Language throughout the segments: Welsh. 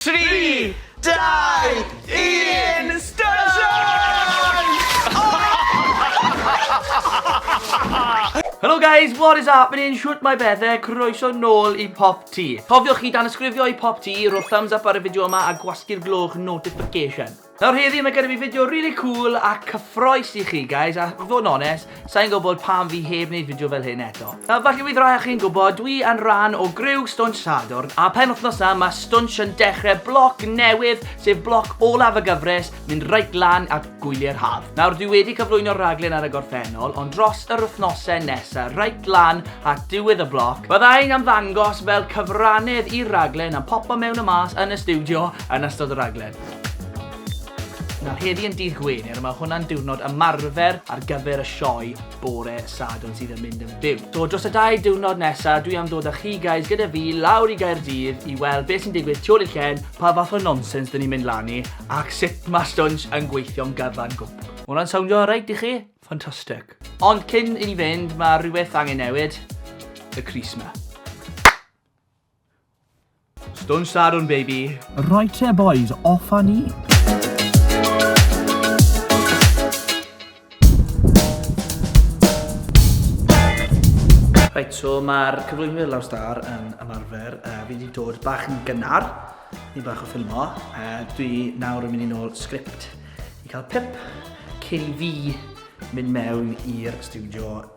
Tri, dau, un, Station! Helo guys, what is happening? Shwt mae bethau? Croeso nôl i Pop T. Cofiwch chi dan ysgrifio i Pop T, rho'r thumbs up ar y fideo yma a gwasgu'r gloch notification. Nawr heddi mae gennym ni fideo rili cŵl a cyffroes i chi guys a i fod yn onest, sa'n gwybod pam fi heb wneud fideo fel hyn eto. Nawr falle fydd rai o chi'n gwybod, dwi yn rhan o griw Stwnsh Sadwrn a penwythnos yma mae Stwnsh yn dechrau bloc newydd sef bloc olaf y gyfres mynd reit lan at gwyliau'r haf. Nawr dwi wedi cyflwyno'r rhaglen ar y gorffennol ond dros yr wythnosau nesa reit lan at diwedd y bloc bydda i'n ymddangos fel cyfrannedd i'r rhaglen yn popo mewn a mas yn y stiwdio yn ystod y rhaglen. Nawr heddi yn dydd Gwener a mae hwnna'n diwrnod ymarfer ar gyfer y sioe bore Sadwrn sydd yn mynd yn fyw. So dros y dau diwrnod nesa dwi am dod â chi guys gyda fi lawr i Gaerdydd i weld beth sy'n digwydd tu ôl i'r llen, pa fath o nonsens dyn ni'n mynd lan i ac sut mae stwnsh yn gweithio'n gyfan gwbl. Mae hwnna'n sowndio alright i chi? Fantastic. Ond cyn i ni fynd mae rhywbeth angen newid, y crys 'ma. Stun Sadwn baby. Right there boys, off a ni. Reit, so mae'r cyflwynwyr lawr star yn ymarfer. Uh, fi wedi dod bach yn gynnar, ni bach o ffilmo. Uh, dwi nawr yn mynd i nôl sgript i cael pip cyn i fi mynd mewn i'r studio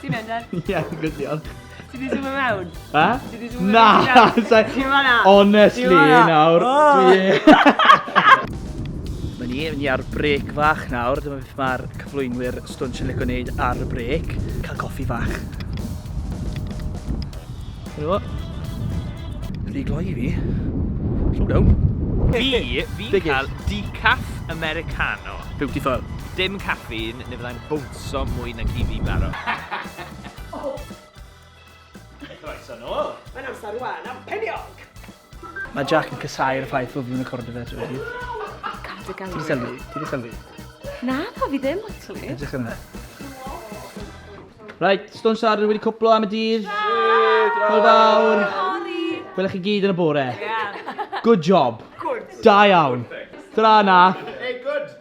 Ti'n mynd ar? Ie, good diolch. Ti di zoom mewn? Ha? Ti di zoom Na! Ti'n fanna? Honestly, nawr. Mae ni, ni ar brec fach nawr. Dyma beth mae'r cyflwynwyr stwnch yn licio wneud ar y brec. Cael coffi fach. Helo. Rhi gloi i fi. Slow down. Fi, fi'n cael decaf Americano. Beautiful. Dim caffeine, neu fyddai'n bwnt. Croeso mwy nag i fi barod. Croeso nôl! Mae'n amser rwan am peniog! Mae Jack yn casau'r ffaith fod fi'n recordio fe trwy hyd. Gad dy gael. Ti di sylwi? Ti di sylwi? Na, pa fi ddim, actually. Edrych yn fe. Right, Stone Sarder wedi cwplo am y dydd. Hwyl fawr. Gwelwch chi gyd yn y bore. Good job. Good. Da iawn. Tra na. Hey, good.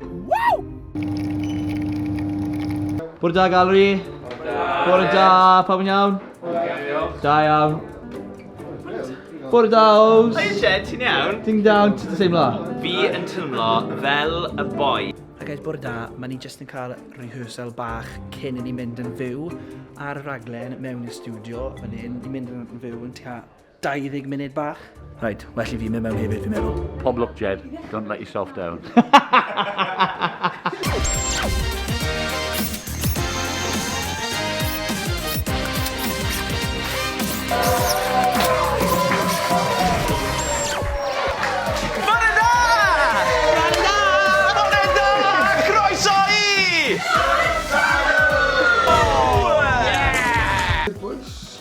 Woo! Bore da, Gallery. Bore da, pawb yn iawn? Da iawn. Bore da, Ows. Hi, Jed, ti'n iawn? Ti'n iawn, ti'n teimlo? Fi yn teimlo fel y boi. A gael bore da, mae ni jyst yn cael rehearsal bach cyn i ni mynd yn fyw ar y raglen mewn i'r studio fan hyn. Ni'n mynd yn fyw yn tua 20 munud bach. Rhaid, well i fi mynd mewn hefyd, fi'n meddwl. Pob lwc, Jed. Don't let yourself down.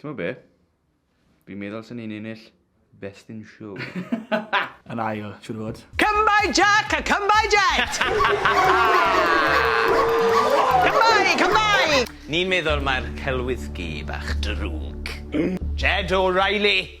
Ti'n gwybod be? Fi'n meddwl sy'n ni'n ennill Best in Show. Yn ail, siwr fod. Come by Jack a come by Jet! Come by, come by! Ni'n meddwl mae'r celwyddgi bach drwg. Jed O'Reilly!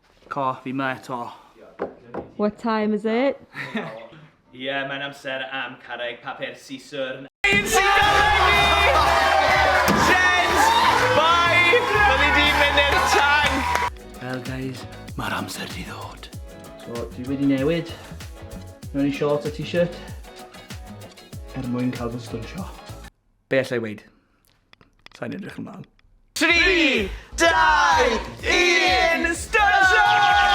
Co, fi ma eto. What time is it? Ie, mae'n amser am carreg papur siswrn. Ein sy'n golygu Jez bai fel i di mynd i'r tanc! Wel guys, mae'r amser di ddod. So, dwi wedi newid mewn i shorts a t-shirt er mwyn cael fy stwnsio. Be allai weud? Sa'n edrych ymlaen. 3, 2, 1, station!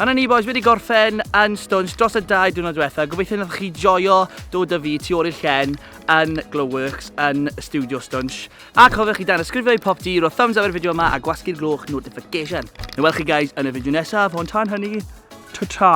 Yna ni boys wedi gorffen yn Stones dros y dau diwrnod diwetha. Gobeithio wnaethoch chi joio dod â fi tu ôl i'r llen yn Glowworks yn Studio Stones. A cofiwch i danysgrifio i pop di, rho thumbs up i'r fideo yma a gwasgu'r gloch notification. Neu welch chi guys yn y fideo nesaf, ond tan hynny, ta-ta!